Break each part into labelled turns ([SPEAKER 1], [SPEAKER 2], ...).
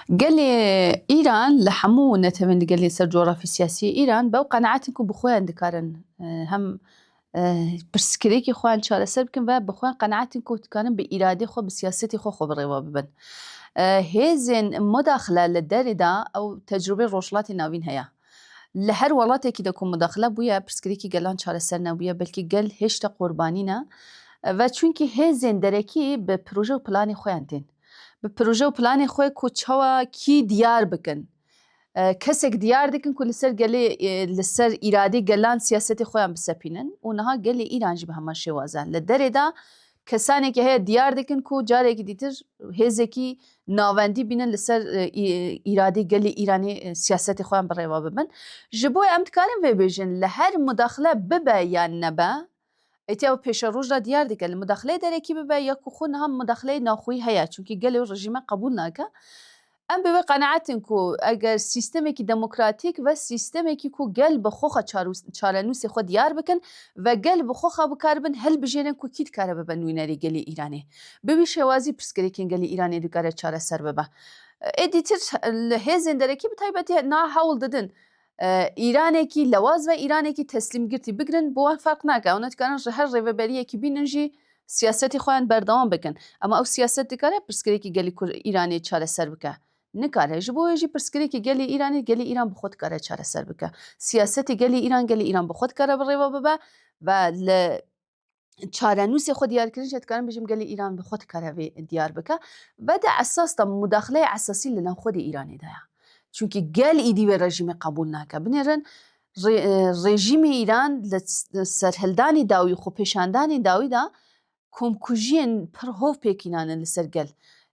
[SPEAKER 1] Gelê Îran li hemû netewên li gelê ser coğrafî-siyasîyê Îran bew qenaet in ku bi xwe dikarin hem pirsgirêkê xwe an çareser bikin ve bi xwe qenaet in ku dikarin bi îradê xwe bi siyasetê xwe xwe bi rêve bibin. Hêzên mudaxile li derê de ew tecrûbeyê Rojhilatê Navîn heye. Li her welatekî de ku mudaxile bûye pirsgirêkê gelan çareser nebûye belkî gel hêşta qurbanî ne ve çunkî hêzên derekî bi proje û planê xwe an tên. Bi proje û planê xwe ku çawa kî diyar bikin. Kesek diyar dikin ku li ser gelê li ser îradê gelan siyasetê xwe yan bisepînin û niha gelê Îran jî bi heman şêwaze li derê de kesanekî heye diyar dikin ku carekî dîtir hêzekî navendî bînin li ser îradê gelê Îranê siyasetê xwe yan bi rêva bibin. Ji bo em dikarin vê bêjin li her mudaxile bibe yan nebe Êtî ew pêşeroj re diyar dike li mudaxileyê derekî bibe ya ku xwe niha mudaxileyê naxweyî heye çunkî gelê û rejîme qebûl nake. Em bi wê qeneet in ku eger sîstemekî demokratîk ve sîstemekî ku gel bi xwe xwe çarenûsê xwe diyar bikin ve gel bi xwe xwe bikaribin hilbijêrin ku kî dikare bibe nûnerê gelê Îranê. Bi wî şêwazî pirsgirêkên gelê Îranê dikare çareser bibe. Êdîtir li hêzên derekî bi taybetî niha hewl didin Îranekî lewaz ve Îranekî teslîmgirtî bigirin bi wan ferq nake. Ew nedikarin ji her rêveberiyekî bînin jî siyasetê xwe yên berdewam bikin. Ama ew siyaset dikare pirsgirêkî gelî Kur Îranê çareser bike? Nikare. Ji bo wê jî pirsgirêkî gelî Îranê gelî Îran bi xwe dikare çareser bike. Siyasetê gelî Îran gelî Îran bi xwe dikare bi rêve bibe ve li çarenûsê xwe diyar kirin jê dikarin bijim gelê Îran bi xwe dikare vê diyar bike ve de esas da mudaxileyê esasî li navxwe dê Îranê de ye. Çunkî gel îdî wê rejîmê qebûl nake. Binêrin rejîmê Îran li serhildanê dawî xwe pêşandanê dawî da komkujiyên pir hov pêkînanin li ser gel.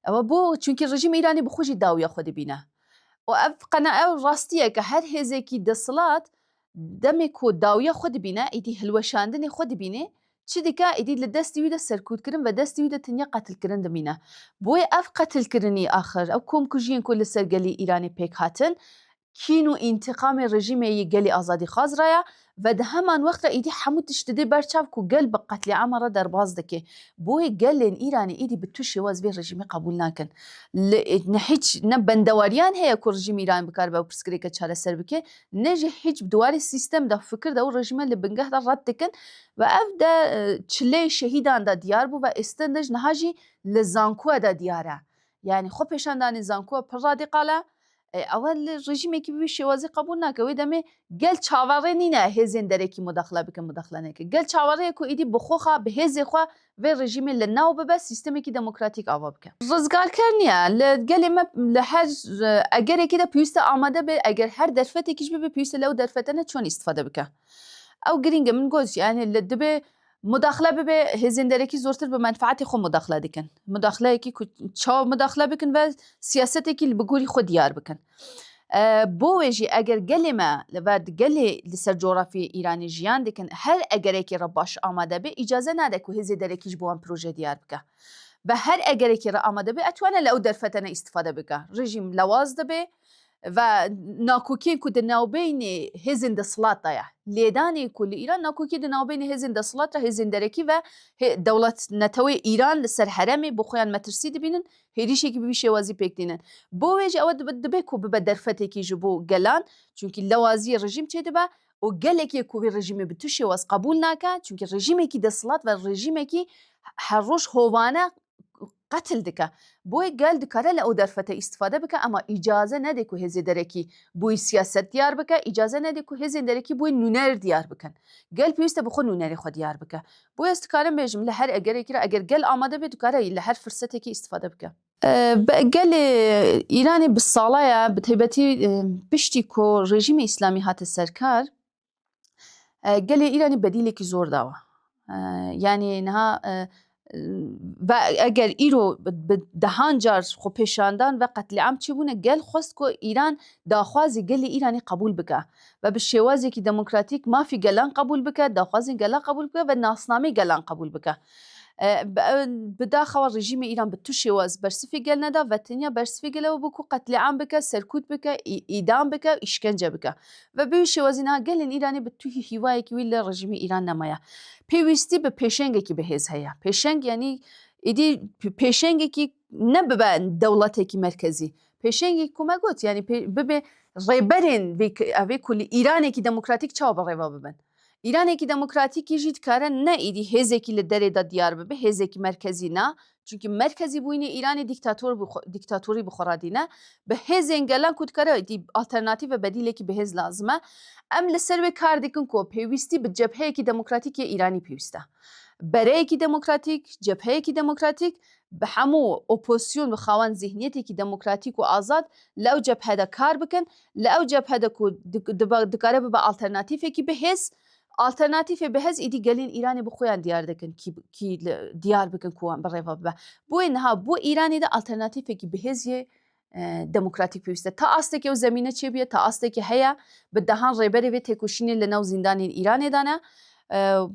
[SPEAKER 1] Ewe bo çunkî rejîmê Îranê bi xwe jî dawiya xwe dibîne. û ev qena ew rastiyeke her hêzekî desilat Demê ku dawiya xwe dibîne, êdî hilweşandinê xwe dibînê, çi dike, êdî li destê wî de serkûtkirin ve destê wî de tenya qetilkirin dimîne. Boyê ev qetilkirinî axir, ev komkujiyên ku li ser gelî Îranê pêk hatin, kîn û întiqamê rejîmê yê gelê azadîxwaz re ye ve di heman wext re êdî hemû tişt didê ber çav ku gel bi qetlîama re derbas dike. Boyê gelên Îranê êdî bi tu şêwaz vê rejîmê qebûl nakin. Li ne hîç ne bendewariyan heye ku rejîmê Îranê bikaribe ew pirsgirêke çareser bike, ne jî hîç bi di warê sîstem de, fikir de û rejîme li bingeh de red dikin ve ev de çileyê şehîdan de diyar bû ve êstin de ji niha jî li zankuwe de diyar e. Yanî xwepêşandanê zankuwe pir radîqal e. Ew li rejîmekî bi vî şêwazî qebûl nake. Wê demê gel çaverê nîne hêzên derekî mudaxle bikin mudaxle nekin. Gel çaverê ye ku êdî bi xwe xwe bi hêzê xwe Vê rejîmê li nav bibe, sîstemekî demokratîk ava bike. Rizgarker niye. Li gelê me li her egerekî de pêwîst e amade be, eger her derfetekî jî bibe pêwîst e lew derfete ne çon îstîfade bike. Ew girîng e. Min got jî yanî li dibê mudaxile bibe, hêzên derekî zortir bi menfaetê xwe mudaxile dikin. Mudaxileyekî ku çawa mudaxile bikin ve siyasetekî li bi gorî xwe diyar bikin. Bo wê jî eger gelê me li ver di gelê li ser coğrafyayê Îranê jiyan dikin her egerekê re baş amade be îcaze nade ku hêzê derekî ji bo wan proje diyar bike ve her egerekê re amade be etwane li ew derfete ne îstifade bike rejîm lewaz dibe ve nakokiyên ku di navbeynê hêzên desthilat de ye lêdanê ku li Îran nakokî di navbeynê hêzên desthilat re hêzên derekî ve dewlet neteweyê Îran li ser heremê bo xwe yan metirsî dibînin Hêrişekî bi vî şêwazî pêk tînin. Bo wê jî ew dibe dibe ku bibe derfetekî ji bo gelan, çunkî lewazîyê rejîm çêdibe û gelekî ku vî rejîmê bi tu şêwaz qebûl nake, çunkî rejîmekî desthilat ve rejîmekî her roj hovane qetil dike. Bo wê gel dikare li ew derfete îstifade bike ema îcaze nede ku hêzê derekî bo wê siyaset diyar bike, îcaze nede ku hêzên derekî bo wê nûner diyar bikin. Gel pêwîste bi xwe nûnerê xwe diyar bike Boya ez dikarim bêjim li her egerekî re eger gel amade be dikare li her firsetekî îstîfade bike. Bi gelê Îranê bi sala ye bi taybetî piştî ku rejîmê îslamî hate ser kar gelê Îranê bedîlekî zor dawe. Yanî niha ve eger îro bi dehan car xwepêşandan ve qetlîam çêbûne gel xwest ku Îran daxwazê gelê Îranê qebûl bike. ve bi şêwazekî demokratîk mafê gelan qebûl bike, daxwazên gelan qebûl bike ve nasnameyê gelan qebûl bike. Bi daxewa rejîmê Îran bi tu şêwaz bersivê gel neda ve tenya bersivê gel ew bû ku qetlîam bike, serkût bike, îdam bike, îşkence bike. Ve bi wî şêwazî niha gelên Îranê bi tu hî hîwayekî wî li rejîmê Îran nemaye. Pêwîstî bi pêşengekî bi hêz heye. Pêşeng yanî êdî pêşengekî ne bibe dewletekî merkezî. Pêşengî ku me got yanî bibê rêberên vê evê ku li Îranekî demokratîk çawa bi rêva bibin. Îranekî demokratîkî jî dikare ne êdî hêzekî li derê de diyar bibe, hêzekî merkezî ne. Çunkî merkezîbûyînê Îranê dîktator bû, dîktatorî bi xwe re dîne. Bi hêzên gelan ku dikare êdî alternatîf ve bedîlekî bi hêz lazim e. Em li ser wê kar dikin ku pêwîstî bi cebheyekî demokratîk yê Îranî pêwîst e. Bereyekî demokratîk, cebheyekî demokratîk bi hemû opozîsyon bi xawen zîhniyetêkî demokratîk û azad li ew cebhe de kar bikin, li ew cebhe de ku dikare bibe alternatîfekî bi hêz, alternatîfê bi hêz îdî gelên Îranê bi xweyan diyar dikin kî kî diyar bikin ku wan bi rêva bibe. Bûyê niha bo Îranê de alternatîfekî bi hêz yê demokratîk pêwîste. Ta astekî ew zemîne çêbûye, ta astekî heye bi dehan rêberê vê têkoşînê li nav zîndanên Îranê de ne.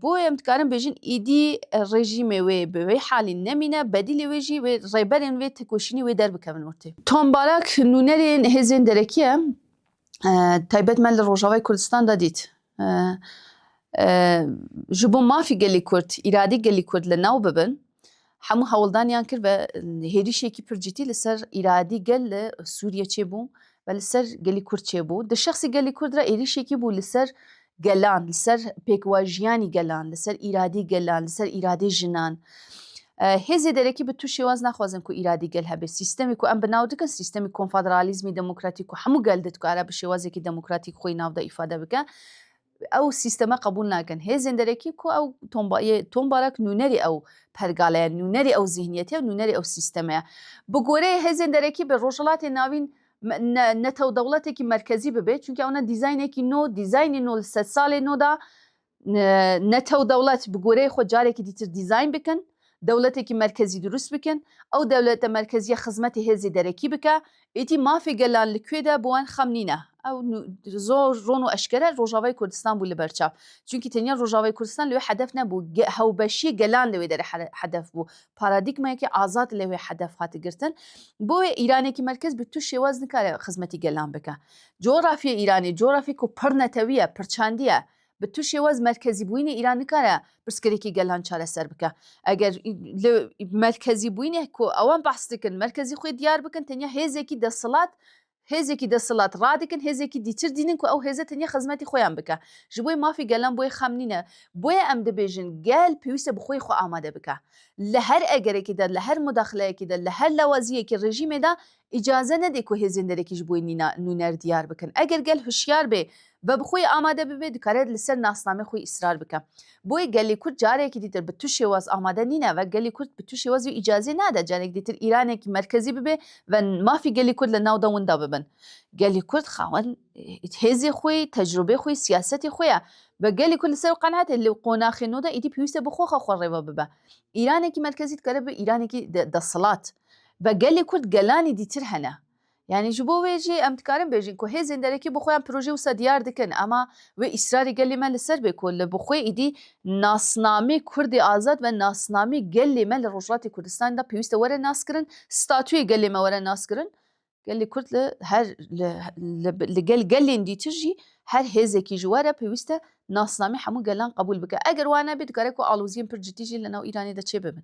[SPEAKER 1] Bo em dikarin bêjin îdî rejîmê wê bi wê halî nemîne, bedîlê wê jî wê rêberên wê têkoşînê wê derbikevin ortê. Tom Barak nûnerên hêzên derekî ye. taybet me li Rojavayê Kurdistan de dît. Ji bo mafê gelê Kurd, îradê gelê Kurd li nav bibin, hemû hewldaniyan kir ve hêrişekî pir cîtî li ser îradî gel li Sûriye çêbû ve li ser gelê Kurd çêbû. Di şexsê gelê Kurd re êrişekî bû li ser gelan, li ser pêkwajiyanî gelan, li ser îradî gelan, li ser îradê jinan. Hêzê derekî bi tu şêwaz naxwazin ku îradî gel hebe. Sîstemê ku em bi nav dikin sîstemî konfederalîzmî demokratîk ku hemû gel di dikare bi şêwazekî demokratîk xwe yê nav de îfade bike ew sîsteme qebûl nakin. Hêzên derekî ku ew tombayê tombarak nûnerê ew pergale ye, nûnerê ew zîhniyetê ye, nûnerê ew sîsteme ye. Bi goreyê hêzên derekî bi Rojhilatê Navîn Netew dewletekî merkezî bibe çunke ew ne dîzaynekî no, dîzaynê no li sed salê no de netew dewlet bi goreyê xwe carekî dîtir dîzayn bikin, dewletekî merkezî dirust bikin, ew dewlete merkezîye xizmetê hêzê derekî bike, êdî mafê gelan li kuê de bi wan xem nîne. Ew zor ron û eşkere Rojavayê Kurdistan bû li ber çav. Çunkî tenya Rojavayê Kurdistan li wê hedef nebû, hewbeşîyê gelan li wê derê hedef bû. Paradîgmayekî azad lê wê hedef hate girtin. Bo wê Îranekî merkez bi tu şêwaz nikare xizmetî gelan bike. Coğrafyê Îranê coğrafyê ku pir netewî ye, pir çandî ye. Bi tu şêwaz merkezîbûyînê Îran nikare pirsgirêkî gelan çareser bike. Eger li merkezîbûyînê ku ewan behs dikin merkezî xwe diyar bikin tenya hêzekî desthilat Hêzekî desthilat radikin, hêzekî dîtir dînin ku ew hêze tenye xizmetî xwe yan bike. Ji boyê mafê gelan boyê xem nîne. Boye em dibêjin gel pêwîste bi xweyê xwe amade bike. Li her egerekê de, li her mudaxileyekê de, li her lawaziyekê rejîmê de îcaze nedê ku hêzên derekî ji boyê nûner diyar bikin. Eger gel hişyar bê Ve bi xwe amade bibe dikare li ser nasnamê xwe îsrar bike. Boyê gelê Kurd carekî dîtir bi tu şêwaz amade nîne ve gelê Kurd bi tu şêwaz wî îcazê nade carek dîtir Îranekî merkezî bibe ve mafê gelê Kurd li navda winda bibin. Gelê Kurd xawen hêzê xwe, tecrubê xwe, siyasetê xwe ye ve gelê Kurd li ser wî qenat e li qonaxê nû de êdî pêwîst e bi xwe xwe xwe rêve bibe. Îranekî merkezî dikare bibe Îranekî desthilat ve gelê Kurd gelanî dîtir hene Yanî ji bo wê jî em dikarin bêjin ku hêzên derekî bi xweyan projeyê wisa diyar dikin. Ema wê îsrarê gelê me li ser be ku li bi xwe êdî nasnamê Kurdê Azad ve nasnamê gelê me li Rojhilatê Kurdistanê de pêwîste were naskirin, statuyê gelê me were naskirin. Gelê Kurd li her li gel gelên dîtir jî her hêzekî ji were pêwîste nasnamê hemû gelan qebûl bike. Eger wa nebe dikare ku aloziyên pir cidî jî li nav Îranê de çêbibin.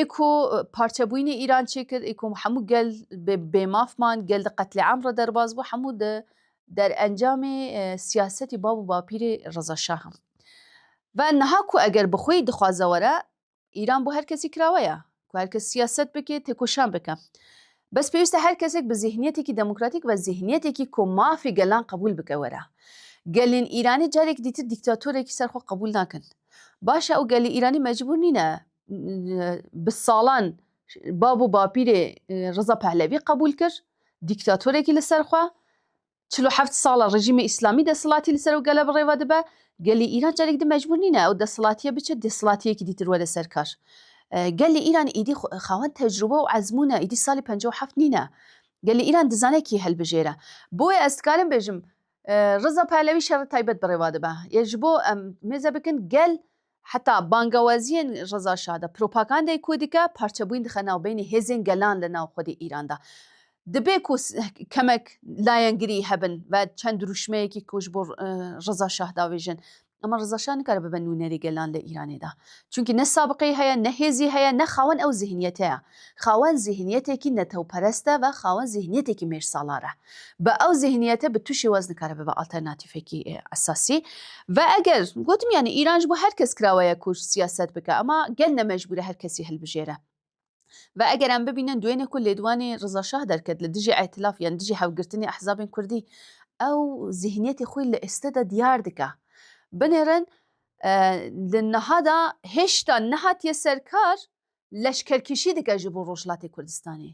[SPEAKER 1] Ê ku parçebûyînê Îran çêkir, ê ku hemû gel bêmaf man, gel di qetlîam re derbas bû, hemû di derencamê siyasetî bav û bapîrê Reza Şah in. Ve niha ku eger bi xweyî dixwaze were, Îran bo her kesî kirawe ye ku her kes siyaset bike, têkoşan bike. Bes pêwîst e her kesek bi zîhniyetekî demokratîk ve zîhniyetekî ku mafê gelan qebûl bike were. Gelên Îranî carek dîtir dîktatorekî ser xwe qebûl nakin. Baş e û gelê Îranî mecbûr nîne bi salan bab û bapîrê Riza Pehlevî qebûl kir, dîktatorekî li ser xwe. Çil û heft sal e rejîmê Îslamî desthilatî li ser ew gele bi rêve dibe. Gelê Îran carek din mecbûr nîne ew desthilatiye biçe desthilatiyekî dîtir were ser kar. Gelê Îran îdî xawen tecrube û ezmûn e, îdî salê penca û heft nîne. Gelê Îran dizane kî hilbijêre. Boye ez dikarim bêjim Riza Pehlewî şerê taybet bi rêva dibe. Yê ji bo em mêze bikin gel heta bangewaziyên Riza Şah de propagandeyê ku dike parçebûyîn dixe navbeynî hêzên gelan li nav xwedî Îran de. Dibe ku kemek layengirî hebin ve çend dirûşmeyekî ku ji bo Riza Şah davêjin Ama Riza Şah nikare bibe nûnerê gelan li Îranê de. Çunkî ne sabiqeyî heye, ne hêzî heye, ne xawen ew zîhniyetê ye. Xawen zîhniyetekî netewperest e ve xawen zîhniyetekî mêrsalar e. Bi ew zîhniyete bi tu şêwaz nikare bibe alternatîfekî esasî. Ve eger, gotim yanî Îran ji bo her kes kirawe ye ku siyaset bike ama gel ne mecbûr e her kesî hilbijêre. Ve eger em bibînin duênê ku lêdwanê Riza Şah derket li dijî îtilaf yan dijî hevgirtinê ehzabên kurdî ew zîhniyetê xwî li êste de diyar dike. Binêrin li niha de hêşta nehatiye ser kar leşkerkêşî dike ji bo Rojhilatê Kurdistanê.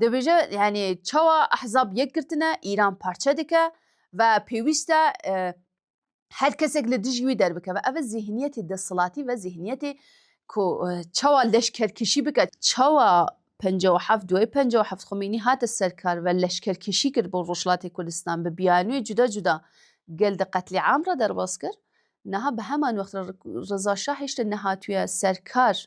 [SPEAKER 1] Dibêje yanî çawa ehzab yek girtine, Îran parçe dike ve pêwîst e Her kesek li dijî wî derbikeve. Ev e zîhniyetê desthilatî ve zîhniyetê ku çawa leşkerkişî bike. Çawa penca û heft duayê penca û heft Xomêynî hate ser kar ve leşkerkişî kir bo Rojhilatê Kurdistan bi biyanûyê cuda cuda gel di qetlîam re derbas kir. Niha bi heman wext re Reza Şah hêştê nehatûye ser kar.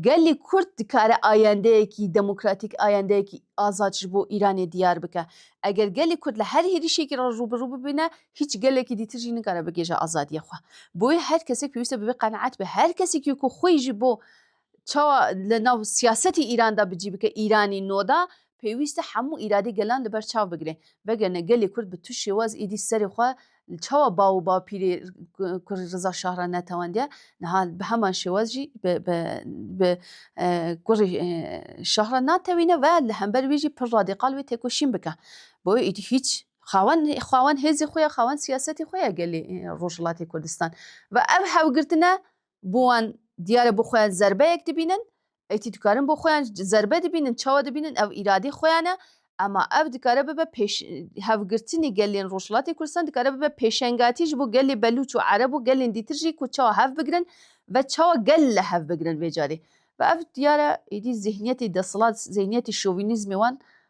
[SPEAKER 1] Gelê Kurd dikare ayendeyekî demokratîk, ayendeyekî azad ji bo Îranê diyar bike. Eger gelê Kurd li her hêrişekî re rû bi rû bibîne, hîç gelekî dîtir jî nikare bigihêje azadiyê xwe. Boyê her kesek pêwîste bi vê qenaet be. Her kesekî ku xwê jî bo çawa li nav siyasetê Îran de bi cî bike, Îranî noda Pêwîst e hemû îradî gelan li ber çav bigire. Vegerine gelê Kurd bi tu şêwaz êdî serê xwe li çawa baw û bapîrê Kurê Riza Şah re netewendiye, niha bi heman şêwaz jî bi Kurê Şah re natewîne ve li hember wî jî pir radîkal wê têkoşîn bike. Bo wê êdî hîç. Xawen xawen hêzê xwe ye, xawen siyasetê xwe ye gelê Rojhilatê Kurdistan. Ve ev hewgirtine bo wan diyar e bo xwe zerbeyek dibînin, Êtî dikarin bo xwe yan zerbe dibînin, çawa dibînin ew îradê xwe yan e. Ema ev dikare bibe pêş, hevgirtinê gelên Rojhilatê Kurdistan dikare bibe pêşengatî ji bo gelê Belûç û Ereb û gelên dîtir jî ku çawa hev bigirin ve çawa gel li hev bigirin vê carê. Ve ev diyar e êdî zîhniyetê desthilat, zîhniyetê şovînîzmê wan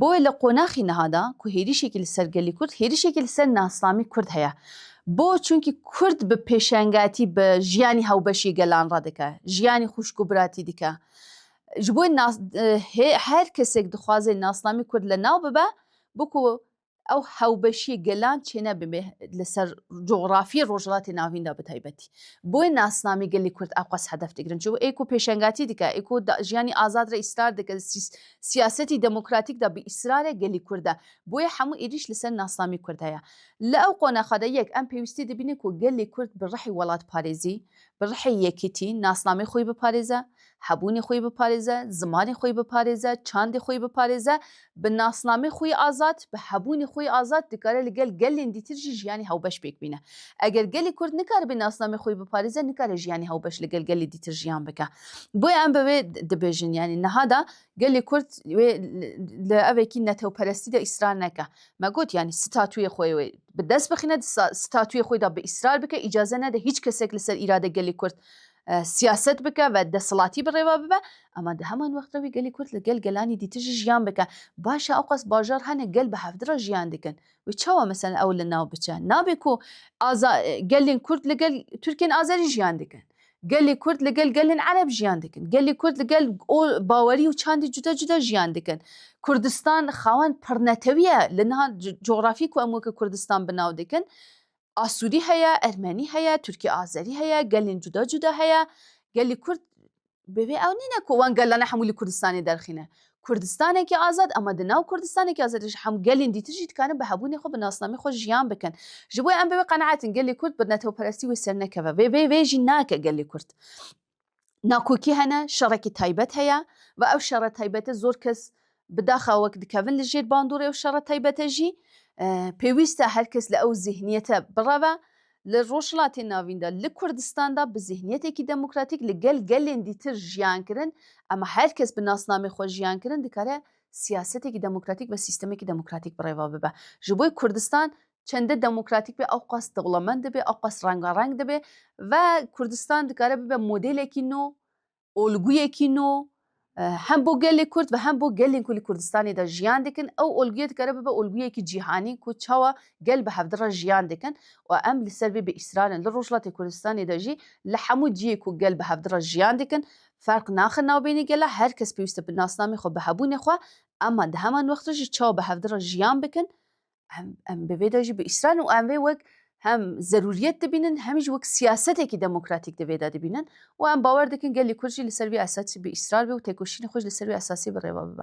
[SPEAKER 1] Boê li qonaxî niha da ku hêrîşekî li ser gelî kurd, hêrîşekî li ser nasnamî kurd heye. Bo çunkî kurd bi pêşengatî bi jiyanî hewbeşî gelan re dike, jiyanî xwişk û biratî dike. Ji bo nas her kesek dixwaze nasnamî kurd li nav bibe, bo ku ew hewbeşiyê gelan çêne bibe li ser cografiyê Rojhilatê Navîn de bi taybetî. Boyê nasnamî gelê Kurd ew qas hedef digirin. Çi ê ku pêşengatî dike, ê ku jiyanî azad re îsrar dike, di siyasetî demokratîk de bi îsrar e gelê Kurd e. Boyê hemû êrîş li ser nasnamî Kurd heye. Li ew qonaxa de yek em pêwîstî dibînin ku gelê Kurd bi rihê welatparêzî, bi rihê yekîtî nasnamê xwe biparêze, hebûnê xwe yê biparêze, zimanê xwe yê biparêze, çandê xwe yê biparêze, bi nasnamê xwe yê azad, bi hebûnê xwe yê azad dikare li gel gelên dîtir jî jiyanê hewbeş pêk bîne. Eger gelê Kurd nikaribê nasnamê xwe yê biparêze nikare jiyanê hewbeş li gel gelê dîtir jiyan bike. Boye em bi wê dibêjin yanî niha de gelê Kurd wê li evekî netewperestî de îsrar neke. Me got yanî statuyê xwe wê bi dest bixîne di statuyê xwe de bi îsrar bike îcaze nede hîç kesek li ser îrade gelê Kurd siyaset bike ve desthilatî bi rêve bibe ema di heman wexta wî gelê Kurd li gel gelanî dîtin jî jiyan bike. Baş e ewqas bajar hene gel bi hevdi re jiyan dikin. Wê çawa meselen ew li nav biçe? Nabê ku gelên Kurd li gel Tirkên Azerî jiyan dikin. Gelê Kurd li gel gelên Ereb jiyan dikin. Gelê Kurd li gel bawerî û çandê cuda cuda jiyan dikin. Kurdistan xawen pirnetewî ye. Li niha cografî ku em weke Kurdistan bi nav dikin Asûrî heye, Ermenî heye, Tirkî Azerî heye, gelên cuda cuda heye. Gelê Kurd bi vê ew nîne ku wan gelane hemû li Kurdistanê derxîne. Kurdistanekî azad ama di nav Kurdistanekî azad de jî hemû gelên dîtir jî dikarin bi hebûnê xwe, bi nasnameyê xwe jiyan bikin. Ji bo em bi wê qeneat in gelê Kurd bi netewperestî wê sernekeve. Vê vê jî nake gelê Kurd. Nakokî hene, şerekî taybet heye ve ew şere taybete zor kes bi daxa wek dikevin li jêr bandorê ew şere taybete jî pêwîst e her kes li ew zîhniyete bireve. Li Rojhilatê Navîn de, li Kurdistan de bi zîhniyetekî demokratîk li gel gelên dîtir jiyan kirin ema her kes bi nasnamê xwe jiyan kirin dikare siyasetekî demokratîk ve sîstemekî demokratîk bi rêve bibe. Ji bo Kurdistan çendê demokratîk be ew qas dewlemend dibe ew qas rengareng dibe ve Kurdistan dikare bibe modelekî nû olguyekî nû hem bo gelê Kurd ve hem bo gelên ku li Kurdistanê de jiyan dikin ew olguye dikare bibe olguyekî cîhanî ku çawa gel bi hevdi re jiyan dikin û em li ser vê bi îsrarên li Rojhilatê Kurdistanê de jî li hemû ciyê ku gel bi hevdi re jiyan dikin ferq naxin navbênê gela her kes pêwîste bi nasnamê xwe bi hebûnê xwe ema di heman wexta jî çawa bi hevdi re jiyan bikin Em, em bi vê de jî bi îsran û em vê wek hem zerûriyet dibînin hem jî wek siyasetekî demokratîk di vê de dibînin û em bawer dikin gelê Kurd jî li ser vî esasî bi îsrar bê û têkoşînê xwe ji li ser vî esasî bi rêve bibe.